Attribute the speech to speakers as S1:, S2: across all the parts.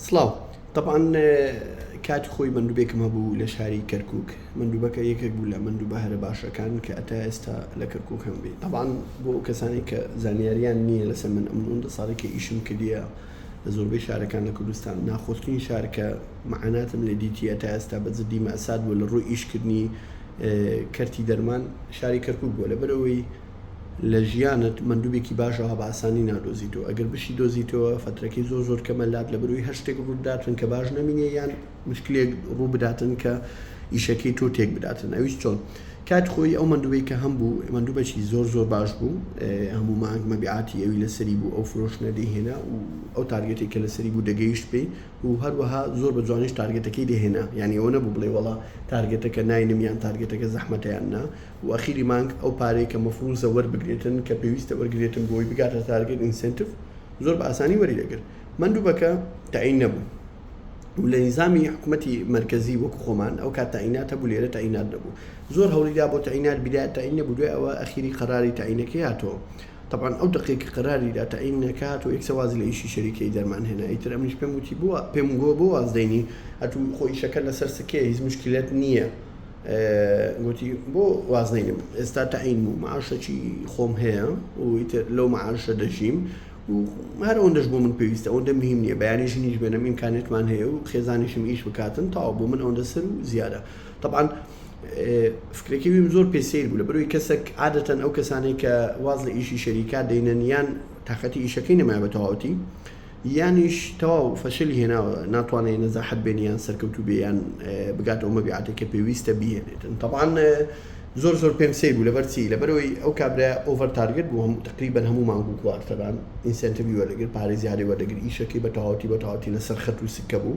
S1: سڵاو طبعاان کاتی خۆی مندوبێکم هەبوو لە شاری کەرکک مندوبەکە یەکێک بوو لە مندوبە هەرە باشەکان کە ئەتا ئێستا لە کەرکک هەم بێ طبعاان بۆ ئەو کەسانی کە زانیاریان نییە لەسەر من ئەم ئەوەندە ساڵی کە ئیشم کردە لە زۆربەی شارەکان لە کوردستان ناخۆشترین شارکە معاناتم لە دیتی ئەتا ئێستا بە جدی مەسات بووە لە ڕووی ئیشکردنی کەرتی دەرمان شاری کەرکک بووە لەبەرەوەی لە ژیانت مەندوبێکی باش ئەوها بە ئاسانی نادۆزیتەوە ئەگەر بشی دۆزیتەوە فەترەکەی زۆر زۆر کەمە لات لە بەروی هەر شتێک ڕوت بداتن کە باش نەمینێ یان مشکلێک ڕوو بداتن کە ئیشەکەی تۆ تێک بداتن ئەویش چۆن کات خۆی ئەو مەندوبەی کە هەم بوو مەندوبەکی زۆر زۆر باش بوو هەموو مانگ مەبیعاتی ئەوی لەسەری بوو ئەو فرۆشنە دەهێنا و ئەو تارگێتی کە لەسەری بوو دەگەیشت پێی و هەروەها زۆر بە جوانیش تارگێتەکەی دەهێنا یعنی ئەوە نەبوو بڵێ وڵا تارگێتەکە ناینم یان تارگێتەکە زەحمەتیان نا و ئەخیری مانگ ئەو پارەی کە مەفروزە وەربگرێتن کە پێویستە وەرگرێتن بۆی بگاتە تارگێت ئینسێنتڤ زۆر بە ئاسانی وەری دەگرت مەندوبەکە تەعین نەبوو و لە نیزامی حکومەتی مەرکەزی وەکو خۆمان ئەو کات تەعینات هەبوو لێرە تەعینات نەبوو زۆر هەولی دا بۆ تەعینات بیدات تەعین نەبوو دوای ئەوە ئەخیری قەراری تەعینەکەی هاتەوە تەبعەن ئەو دەقەی کە قەراری دا تەعینەکە هات و یەکسە وازی لە ئیشی شەریکەی دەرمان هێنا ئیتر ئەمنیش پێم وتی بۆ پێم گۆ بۆ واز دەینی ئەتوو خۆ ئیشەکە لەسەر سکەیە هیچ موشکیلەت نییە. گوتی، بۆ وازنەینم، ئێستا تەعین بوو، مەعاشەکی خۆم هەیە و ئیتر لەو مەعاشە دەژیم و هەر ئەوەندەش بۆ من پێویستە، ئەوەندە مهیم نییە، بەیانی ژنیش بێنم، ئیمکانیەتمان هەیە و خێزانیشم ئیش بکاتن، تەواو، بۆ من ئەوەندە سەر و زیادە. تەبعەن فکرەکەی ویم زۆر پێ سەیر بوو، لەبەرئەوەی کەسەک عادەتەن ئەو کەسانەی کە واز لە ئیشی شەریکا دەینەن یان تاقەتی ئیشەکەی نەمایە بە تەواوەتی، یانیش تەواو فەشەلی هێناوە ناتوانێ نەزاحەت بێنێ یان سەرکەوتوو بێ یان بگاتە ئەو مەبیعاتەی کە پێویستە بیهێنێتن تەبعەن زۆر زۆر پێم سەیر بوو لەبەر چی لەبەرەوەی ئەو کابرایە ئۆڤەر تارگێت بوو هەموو تەقریبەن هەموو مانگ و کوارتەران ئینسێنتیڤی وەردەگرت پارەی زیادی وەردەگرت ئیشەکەی بە تەواوەتی بە تەواوەتی لەسەر خەت و سکە بوو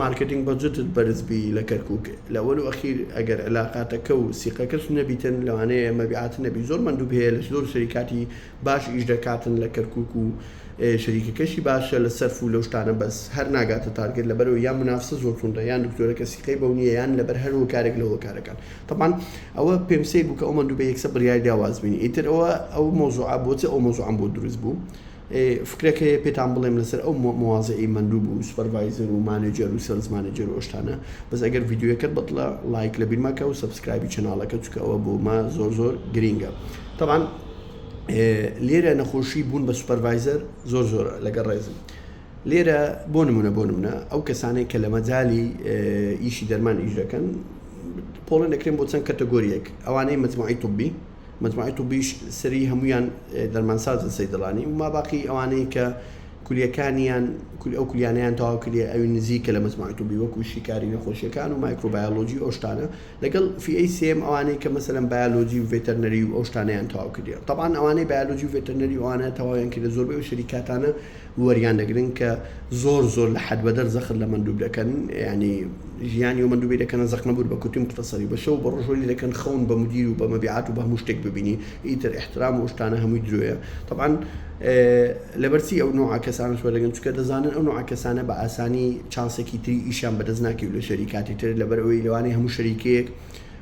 S1: مارکتینگ بەجتت بەرز بی لە کەرکوک لە وەل و ئەخیر ئەگەر علاقاتەکە و سیقەکەش نەبیتن لەوانەیە مەبیعات نەبی زۆر مەندوب هەیە لە زۆر شەریکاتی باش ئیش دەکاتن لە کەرکوک و شەریکەکەشی باشە لە سەرف و لەو شتانە بەس هەر ناگاتە تارگێت لەبەرئەوەی یان منافسە زۆر توندە یان دکتۆرەکە سیقەی بەو نیە یان لەبەر هەر هۆکارێک لە هۆکارەکان تەبعەن ئەوە پێم سەیر بوو کە ئەو مەندوبە یەکسەر بریاری دا واز بینی ئیتر ئەوە ئەو مەوزوعە بۆچ ئەو مەوزوعەم بۆ دروست بوو فکرەک هەیە پێتان بڵێم لەسەر ئەو مواضعی مەندوب و سوپەرڤایزەر و مانێجەر و سێڵز مانێجەر و ئەو شتانە بەس ئەگەر ڤیدیۆیەکەت بەدڵە ڵایک لەبیر مەکە و سەبسکرایبی چەناڵەکە چونکە ئەوە بۆمە زۆر زۆر گرینگە تەبعەن لێرە نەخۆشی بوون بە سوپەرڤایزەر زۆر زۆر لەگە ڕێزم لێرە بۆ نمونە بۆ نمونە ئەو کەسانەی کە لە مەجای ئیشی دەرمان ئیش دەکەن پۆڵن دەکرێن بۆ چەند کەتەگۆریەک ئەوانەی مجموعی طبی مجموعەی طبیش سەری هەموویان دەرمانسازن سەیدەڵانی و ماباقی ئەوانەی کە کولیەکانیان ئەو کولیانیان تەواو کردێ ئەوی نزیکە لە مجموعەی طبی وەکو شیکاری نەخۆشیەکان و مایکرۆبایۆلۆجی ئەو شتانە لەگەڵ فیەی سێم ئەوانەی کە مەسەلەن بایۆلۆجی و ڤێتەرنەری و ئەو شتانەیان تەواو کردێ تەبعەن ئەوانەی بایۆلۆجی و ڤێتەرنەری ئەوانە تەواویان کردێ زۆربەی ئەو شەریکاتانە وەریان دەگرن کە زۆر زۆر لە حەد بەدەر زەخت لە مەندوب دەکەن یانی ژیانی و مەندوبی دەکەنە زەخنە بور بە کوتی مختەسەری بە شەو بە ڕۆژ وەری دەکەن خەون بە مدیر و بە مەبیعات و بە هەموو شتێک ببینی ئیتر ئیحترام و ئەو شتانە هەمووی درۆیە تەبعەن لەبەر چی ئەو نوعە کەسانەش وەردەگرن چونکە دەزانن ئەو نوعە کەسانە بە ئاسانی چانسێکی تری ئیشیان بەدەست ناکەی و لە شەریکاتی تر لەبەر ئەوەی لەوانەیە هەموو شەریکەیەک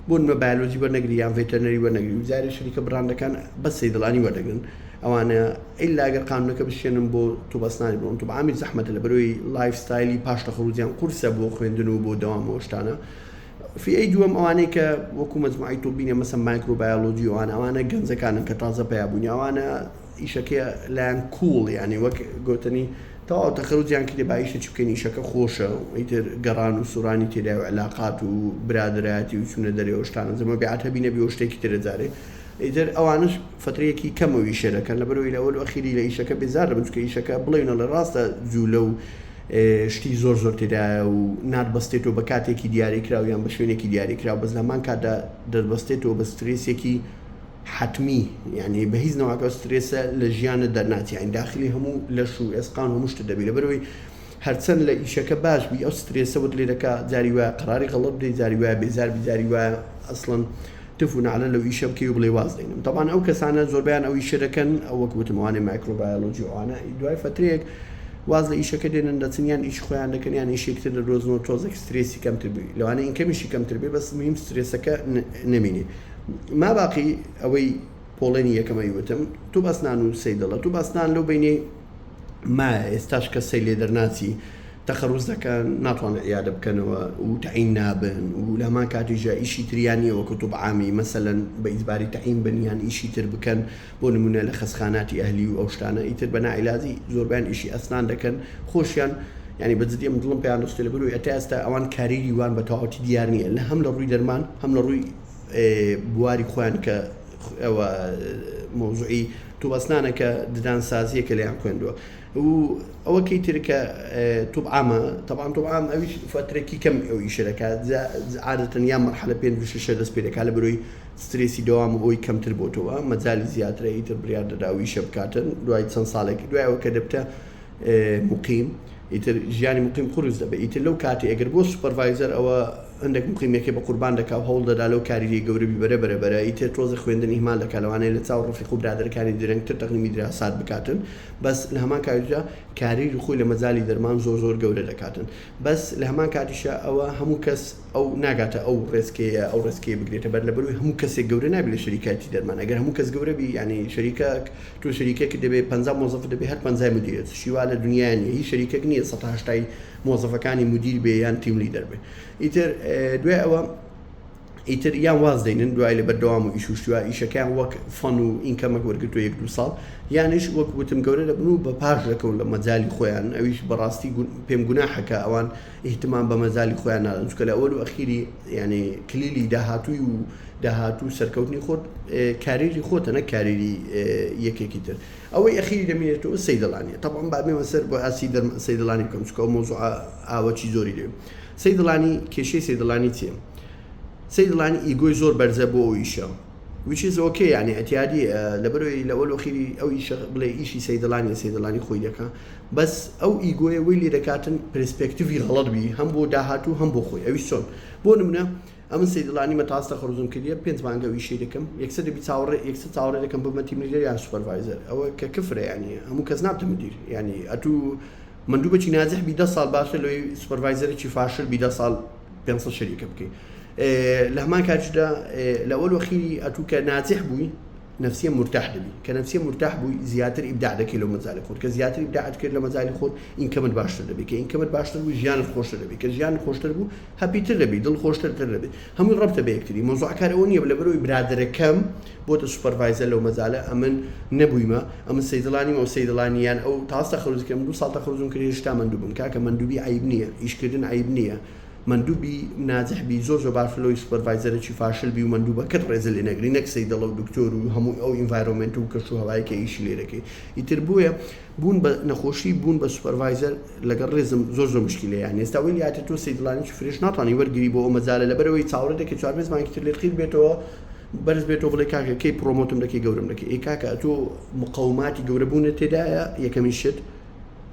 S1: بۆ نمە بایۆلۆجی وەرنەگری یان ڤێتەرنەری وەرنەگری و جارێ شەریکە بڕاندەکان بەس سەیدڵانی وەردەگرن ئەوانە ئیلا گەر قانونەکە بشێنن بۆ طوب اسنانی بڕۆن طوب عامی زەحمەتە لە بەرۆی لایف ستایلی پاش لە خروجیان قورسە بۆ خوێندن و بۆ دەوام ئەو شتانە فی ئەی دووەم ئەوانەی کە وەکو مەجموعی طوبینە مەسە مایکرۆبایۆلۆجی ئەوانە ئەوانە گەنجەکانن کە تازە پیا بوونی ئەوانە ئیشەکەی لایان کوڵ یانی وەک گۆتەنی تەواو تەخەرو جیان کردی با ئیشە چی بکەین ئیشەکە خۆشە و ئیتر گەڕان و سورانی تێدای و علاقات و برادەرایەتی و چونە دەرێ و شتانە جە مەبیعات هەبی نەبی و شتێکی ترە جارێ ئیتر ئەوانش فەترەیەکی کەمەو ئیشە دەکەن لەبەرەوەی لە ئەولو ئەخیری لە ئیشەکە بێزار دەبن چکە ئیشەکە بڵێونە ڵێ ڕاستە جولە و شتی زۆر زۆر تێدایە و نات بەستێتەوە بە کاتێکی دیاری کراو یان بە شوێنێکی دیاری کراو بەس لە هەمان کاتدا دەربەستێتەوە بە سترێسێکی حەتمی یانی بە هیچ نەوعەک ئەو سترێسە لە ژیانت دەرناچێ یانی داخلی هەموو لەش و ئێسقان و هەموو شتت دەبی لەبەرەوەی هەرچەند لە ئیشەکە باش بی ئەو سترێسەوەت لێ دەکا جاری وایە قەراری غەڵەت بدەی جاری وایە بێزار بی جاری وایە ئەسڵەن تف و نەعلە لەو ئیشە بکەی و بڵێی واز دێنم تەبعەن ئەو کەسانە زۆربەیان ئەو ئیشە دەکەن ئەو وەک وتم ئەوانەی مایکرۆبایۆلۆجی و ئەوانە دوای فەترەیەک واز لە ئیشەکە دێنن دەچن یان ئیشی خۆیان دەکەن یان ئیشێکی تر دەدۆزنەوە تۆزێک سترێسی کەمتر بووی لەوانەیە ئینکەمیشی کەمتر بێ بەس مهم سترێسەکە نەمینێ ماباقی ئەوەی پۆڵێنی یەکەمەی وتم تو باس نان و سەیدەڵە تو باس نان لەو بینی ما ئێستاش کە سەی لێ دەرناچی تەخەڕوز دەکەن ناتوانن عیادە بکەنەوە و تعین نابن و لە هەمان کاتیژە ئیشی تریانی وەکو تو عامی مەسەلەن بە ئیجباری تعین بن یان ئیشی تر بکەن بۆ نمونە لە خەسخاناتی ئەهلی و ئەو شتانە ئیتر بە ناعیلاجی زۆربیان ئیشی ئەسنان دەکەن خۆشیان یعنی بە جدی من دڵم پێیان دەستی لەبەر و ئێتا ئێستا ئەوان کاریری وان بە تەواوەتی دیار نییە لە هەم لە ڕووی دەرمان هەم لە ڕووی بواری خۆیان کە ئەوە مۆزوعی توبەسنانە کە ددان سازیە کە لەیان خوێندووە و ئەوە کەی ترکە توبعامە تەبان توبعام ئەویش فترەکی کەم ئەو ئیشە دەکات عادەتەن یا مەرحلە پێ ششە دەست پێ دەکات لە بەرۆی سترێسی دەوام و ئەوی کەمتر بۆتەوە مەجای زیاترە ئیتر بریار دەداوی شە بکاتن دوای چەند ساڵێک دوایەوە کە دەبتە مقیم ئیتر ژیانی مقیم قرس دەبێت ئیتر لەو کاتی ئەگەر بۆ سوپەرڤایزەر ئەوە هەندێک موقیمێکێ بە قوربان دەکا و هەوڵ دەدا لەو کاری لێ گەورە بی بەرە بەرە بەرە ئیتر تۆزێ خوێندن ئیهمال دەکا لەوانەیە لە چاو ڕفیق و برادەرەکانی درەنگ تر تەقدیمی دراسات بکاتن بەس لە هەمان کاتیشدا کاریری خۆی لە مەجالی دەرمان زۆر زۆر گەورە دەکاتن بەس لە هەمان کاتیشا ئەوە هەموو کەس ئەو ناگاتە ئەو ڕێچکەیە ئەو ڕێچکەیە بگرێتە بەر لە بەرووی هەموو کەسێک گەورە نابی لە شەریکایتی دەرمان ئەگەر هەموو کەس گەورە بی یانی شەریکەک تۆ شەریکەکت دەبێ پەنجا مۆزەفت دەبێ هەر پەنجای مدیرت شتی وا لە دنیا نیە هیچ شەریکەک نیە سەتا هەشتای مۆزەفەکانی مودیر بێ یان تیم لیدەر بێ ئیتر دوای ئەوە ئیتر یان واز دەینن دوای لە بەردەوام و ئیشوشتوە ئیشەکەیان وەک فەن و ئینکەمەک وەرگتو یەک دو ساڵ یانش وەک وتم گەورە دەبن و بە پاش دەکەون لە مەجای خۆیان ئەویش بەڕاستی پێم گوناحەکە ئەوان ئیهتمام بە مەجای خۆیان نادەن چکە لە ئەوەل و ئەخیری یعنی کلیلی داهاتوی و داهاتوو سەرکەوتنی خۆت کاریری خۆتە نە کاریری یەکێکی تر ئەوەی ئەخیری دەمینێتەوە سەیدەڵانیە تەبعەن با بێمە سەر بۆ ئاسی دەرمان سەیدەڵانی بکەم چونکە ئەو مەوزوعە ئاوەچی زۆری لێ سەیدەڵانی کێشەی سەیدەڵانی چیە سەیدەڵانی ئیگۆی زۆر بەرزە بۆ ئەو ئیشە which is okay یعنی ئەتیادی لەبەرەوەی لە وەلو خیری ئەو ئیشە بڵێ ئیشی سەیدەڵانی سەیدەڵانی خۆی دەکا بەس ئەو ئیگۆیە وی لێ دەکاتن پرسپێکتیوی غەڵەت بی هەم بۆ داهاتوو هەم بۆ خۆی ئەوی چۆن بۆ نمونە ئەمن سەیدلانی مەتاستە خەرزوم کردیە پێنج مانگە و ئیشەی دەکەم یەکسەر دەبی چاوەڕێ یەکسەر چاوەڕێ دەکەم ببمە تیم لیدەر یان سوپەرڤایزەر ئەوە کە کفرە یانی هەموو کەس نابتە مدیر یانی ئەتوو مندوبەچی ناجح بی دە ساڵ باشتر لەوەی سوپەرڤایزەرێکی فاشل بی دە ساڵ پێنج سەد شەریکە بکەی لە هەمان کاتیشدا لە ئەوەل وەخیری ئەتوو کە ناجح بووی نفسیە مرتاح دەبی کە نفسیە مرتاح بووی زیاتر ئیبداع دەکەی لەو مەجالی خۆت کە زیاتر ئیبداعت کرد لە مەجالی خۆت ئینکەمت باشتر دەبی کە ئینکەمت باشتر بوو ژیانت خۆشتر دەبی کە ژیان خۆشتر بوو هەپی تر دەبی دڵ خۆشتر تر دەبی هەمووی ڕەبتە بە یەکتری مەوزوعە کار ئەوە نیە لەبەر ئەوی برادەرەکەم بۆتە سوپەرڤایزەر لەو مەجالە ئەمن نەبویمە ئەمن سەیدڵا نیم ئەو سەیدڵا نیە یان ئەو تاس تەخەروج کرد من دوو ساڵ تەخەروجم کرد هێشتا مەندوو بم کاکە مەندوبی عەیب نیە ئیش کردن عەیب نیە مەندوو بی ناجح بی زۆر زۆر باشە لەوەی سوپەرڤایزەرەکی فاشل بی و مەندوبەکەت ڕێزی لێ نەگری نەک سەیدڵە و دکتۆر و هەموو ئەو ئینڤایرۆمێنت و کەش و هەوایەی کە ئیشی لێ دەکەی ئیتر بۆیە بوون بە نەخۆشی بوون بە سوپەرڤایزەر لەگەڵ ڕێزم زۆر زۆر مشکیلە یان ئێستا وێنی هاتە تۆ سەیدلانێکی فرێش ناتوانی وەرگری بۆ ئەو مەجالە لەبەرەوەی چاوەڕێ دەکەی چوار پێنج مانگی تر لێت قیر بێتەوە بەرز بێتەوە بڵێ کاکە کەی پرۆمۆتم دەکەی گەورم دەکەی ئەی کاکە ئەتۆ مقەوماتی گەورەبوونە تێدایە یەکەمین شت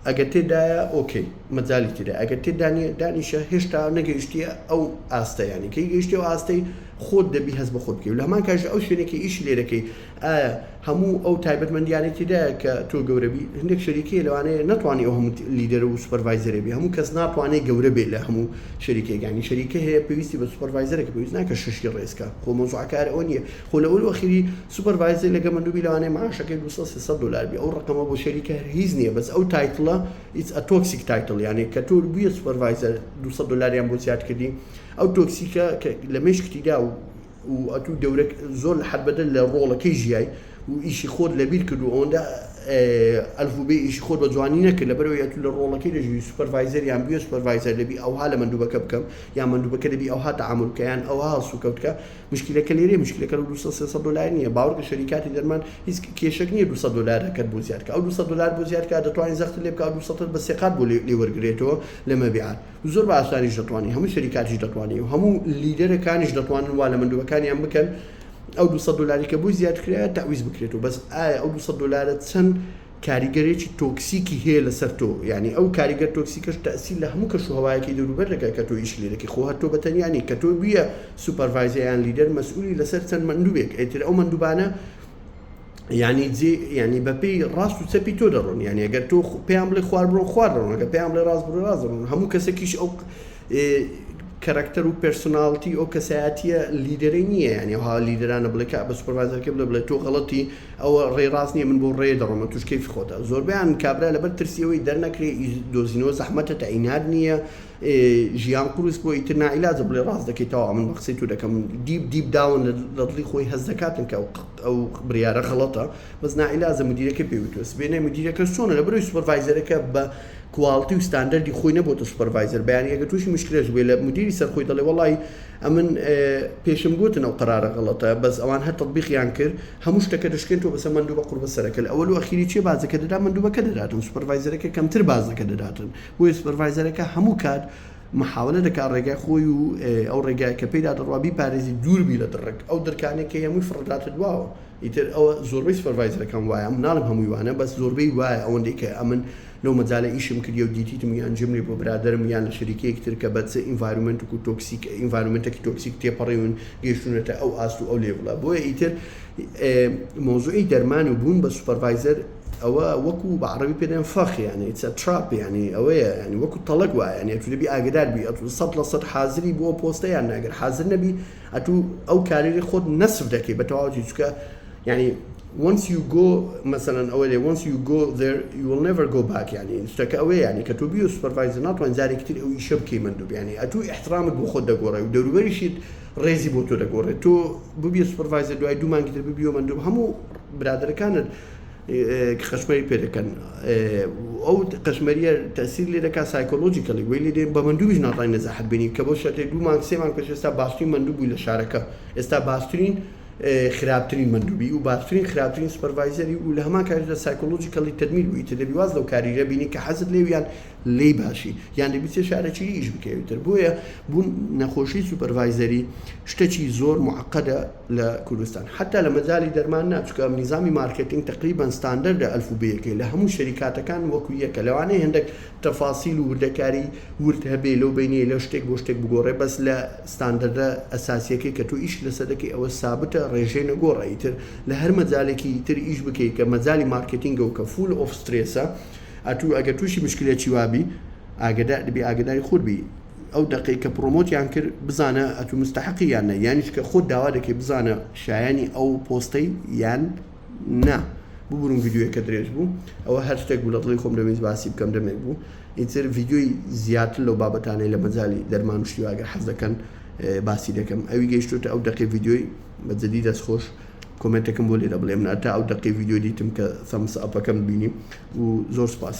S1: ئەگەر تێدایە ئۆکەی مەجای تێدا ئەگەر تێدانە دانیشە هێشتا نەگەیشتیە ئەو ئاستەیانی کەی گەیشتی و ئاستەی خۆت دەبی هەز بە خۆت بکەی لە هەمان کاژە ئەو شوێنێکی ئیش لێ دەکەی ئایا هەموو ئەو تایبەتمەندیانەی تێدایە کە تۆ گەورە بی؟ هەندێک شەریکەیە لەوانەیە نەتوانی ئەو هەموو لیدەر و سوپەرڤایزەرە بی، هەموو کەس ناتوانێ گەورە بێ لە هەموو شەریکەکانی، شەریکە هەیە پێویستی بە سوپەرڤایزەرێکە پێویست ناکە شەشی ڕێز کا، خۆ مەوزوعە کار ئەوە نییە، خۆ لە ئەول و ئەخیری سوپەرڤایزەی لە گەمەندو بی لەوانەیە معاشەکەی دوو سەد سێ سەد دۆلار بی، ئەو ڕەقەمە بۆ شەریکە هەر هیچ نییە بەس ئەو تایتڵە It's a toxic title یانێ کە تۆ بویە سوپەرڤایزەر دوو سەد دۆلاریان بۆ زیاد کردی ئەو تۆکسیکە کە لە مێشکتی دا و و ئەتوو دەورەک زۆر لە حەد بەدەر لە ڕۆڵەکەی ژیای و ئیشی خۆت لەبیر کرد و ئەوەندە ئەلفو بێ ئیشی خۆت بە جوانی نەکرد لەبەرئەوەی ئەتوو لە ڕۆڵەکەی دەژی سوپەرڤایزەر یان بوێ سوپەرڤایزەر دەبی ئەوها لە مەندوبەکە بکەم یان مەندوبەکە دەبی ئەوها تەعامول بکە یان ئەوها هەڵسوکەوت کە مشکیلەکە لێرەیە مشکیلەکە لە دوو سەد سێ سەد دۆلار نییە باوەڕکە شەریکاتی دەرمان هیچ کێشەک نییە دوو سەد دۆلارەکەت بۆ زیاد کە ئەو دوو سەد دۆلار بۆ زیاد کا دەتوانی زەختت لێ بکا ئەو دوو سەدەت بە سێ قات بۆ لێ وەرگرێتەوە لە مەبیعات زۆر بە ئاسانیش دەتوانی هەموو شەریکاتیش دەتوانێ و هەموو لیدەرە کانیش دەتوانن وا لە مندوبەکانیان بکەن ئەو 200 دلاری کە بۆی زیاد کرایە تعویز بکرێت و بەس ئایا ئەو 200 دلارە چەند کاریگەرێکی تۆکسیکی هەیە لەسەر تۆ یعنی ئەو کاریگەر تۆکسیکەش تەسیل لە هەموو کەش و هەوایەکی دەوروبەر دەکات کە تۆ ئیش لێرەکی خۆ هەر تۆ بە تەنیا نیت کە تۆ بویە سوپەرڤایزەیان لیدەر مەسئولی لەسەر چەند مەندوبێک ئەیتر ئەو مەندوبانە یانی جێ یانی بەپێی ڕاست و چەپی تۆ دەڕۆن یانی ئەگەر تۆ پێیان بڵێ خوار بڕۆ خوار دەڕۆن ئەگەر پێیان بڵێ ڕاست بڕۆ ڕاست دەڕۆن هەموو کەسێکیش ئەو کەرەکتەر و پێرسۆناڵتی ئەو کەسایەتیە لیدەرەی نییە یانی ها لیدرانە بڵێ کە بە سوپەرڤایزەرکە بڵێ بڵێ تۆ غەڵەتی ئەوە ڕێ ڕاست نییە من بۆ ڕێ دەڕۆمە توش کەیفی خۆتە زۆربیان کابرا لەبەر ترسیەوەی دەرنەکرێ دۆزینەوە زەحمەتە تا ئینات نییە ژیان قورس بۆ ئیتر نائیلاجە بڵێ ڕاست دەکەیتەوە من بە قسەی تو دەکەم دیب دیب داون لە دڵی خۆی هەز دەکاتن کە ئەو بریارە غەڵەتە بەس ناعیلازە مدیرەکەی پێی وتوە سبێنێ مدیرەکەش چۆنە لەبەرەوەی سوپەرڤایزەرەکە بە کواڵتی و ستاندەردی خۆی نەبۆتە سوپەرڤایزەر بە یانی ئەگەر توشی مشکلەش بێ لە مدیری سەر خۆی دەڵێ وەڵای ئەمن پێشم گۆتن ئەو قەرارە غەڵەتە بەس ئەوان هەر تەتبیقیان کرد هەموو شتەکە دەشکێن تۆ بەسە مەندوبە قوربە سەرەکە لە ئەوەلو ئەخیری چیە باجەکە دەدا مەندوبەکە دەداتن سوپەرڤایزەرەکە کەمتر باجەکە دەداتن بۆیە سوپەرڤایزەرەکە هەموو کات محاولە دەکات ڕێگای خۆی و ئەو ڕێگایە کە پێیدا دەڕوا بیپارێزیت دوور بی لە دڕک ئەو دڕکانەی کە هەیە هەمووی فڕۆداتە دواوە ئیتر ئەوە زۆربەی سوپەرڤایزەرەکان وایە ناڵێم هەمووی وانە بەس زۆربەی وایە ئەوەندەی کە ئەمن لەو مەجالە ئیشم کردیە و دیتیتم یان جمرێ بۆ برادەرم یان لە شەریکەیەک تر کە بە چ ئینڤایرۆمێنتک و تۆکسیک ئینڤایرۆمێنتەکی تۆکسیک تێپەڕیون گەیشتونەتە ئەو ئاست و ئەو لێڤڵە بۆیە ئیتر مەوزوعی دەرمان و بوون بە سوپەرڤایزەر ئەوە وەکو بە عەڕەبی پێ دەێن فەخ یانی ئیتس ئە تراپ یانی ئەوەیە یانی وەکو تەڵەک وایە یانی ئەتوو دەبی ئاگدار بی ئەتوو سەد لە سەد حازری بۆ ئەو پۆستە یان ناگەر حازر نەبی ئەتوو ئەو کارێری خۆت نەسف دەکەی بە تەواوەتی چکە یانی once you go مثلا ئەوە لێ once you go there you will never go back یعنی شتەکە ئەوەیە یعنی کە تۆ بیو سوپەرڤایزەر ناتوان جارێکی تر ئەو ئیشە بکەی مندوب یعنی ئەتوو احترامت بۆ خۆت دەگۆڕێ و دەوروبەریشیت ڕێزی بۆ تۆ دەگۆڕێت تۆ ببیە سوپەرڤایزەر دوای دوو مانگی تر ببیەوە مندوب هەموو برادەرەکانت قەشمەری پێ دەکەن و ئەو قەشمەریە تەسیر لێ دەکات سایکۆلۆژیکەلی وەی لێ دێن بە مندوویش ناتوانین نەزەحەت بێنین کە بۆ شەرتێ دوو مانگ سێ مانگ پێش ئێستا باشترین مندوو بووی لە شارەکە ئێستا باشترین خراپترین مندووبی و باشترین خراپترین سوپەرڤایزەری و لە هەمان کاتیشدا سایکۆلۆژیکەلی تەدمیر بووی ئیتر دەبی واز لەو کاریە بینی کە حەزت لێی و یان لێی باشی یان دەبی چێ شارە چی ئیش بکەی ئیتر بۆیە بوون نەخۆشی سوپەرڤایزەری شتەکی زۆر موعەقەدە لە کوردستان حەتا لە مەجالی دەرمان نا چونکە نیزامی مارکێتینگ تەقریبەن ستاندەردە ئەلفوبێیەکەی لە هەموو شەریکاتەکان وەکو یەکە لەوانەیە هێندەک تەفاسیل و وردەکاری ورد هەبێ لەو بەینەی لە شتێک بۆ شتێک بگۆڕێ بەس لە ستاندەردە ئەساسیەکەی کە تۆ ئیشت لەسەر دەکەی ئەوە سابتە ڕێژەی نەگۆڕە ئیتر لە هەر مەجالێکی تر ئیش بکەی کە مەجالی مارکێتینگە و کە فول ئۆف سترێسە ئەتوو ئەگەر تووشی مشکلێکی وابی ئاگدار بی ئاگداری خود بی. ئەو دەقەی کە پڕۆمۆتیان کرد بزانە ئەتوو مستحقی یان نە یانیش کە خۆت داوا دەکەی بزانە شایانی ئەو پۆستەی یان نا ببورن یددیوەکە درێژ بوو ئەوە هەر شتێک بوو لە دڵی خۆم دەمەویست باسی بکەم دەمێک بوو ئیتر یددیوی زیاتر لەو بابەتانەی لە مەجای دەرمان و شتیواگە حەز دەکەن باسی دەکەم ئەوی گەیشتوتە ئەو دەقی یددیوی بە جدی دەستخۆش کۆمنتەکەم بۆ لێرە بڵێم ناتا ئەو دەقی یددیو دیتم کە سەمس ئەپەکەم بینی و زۆر سپاس.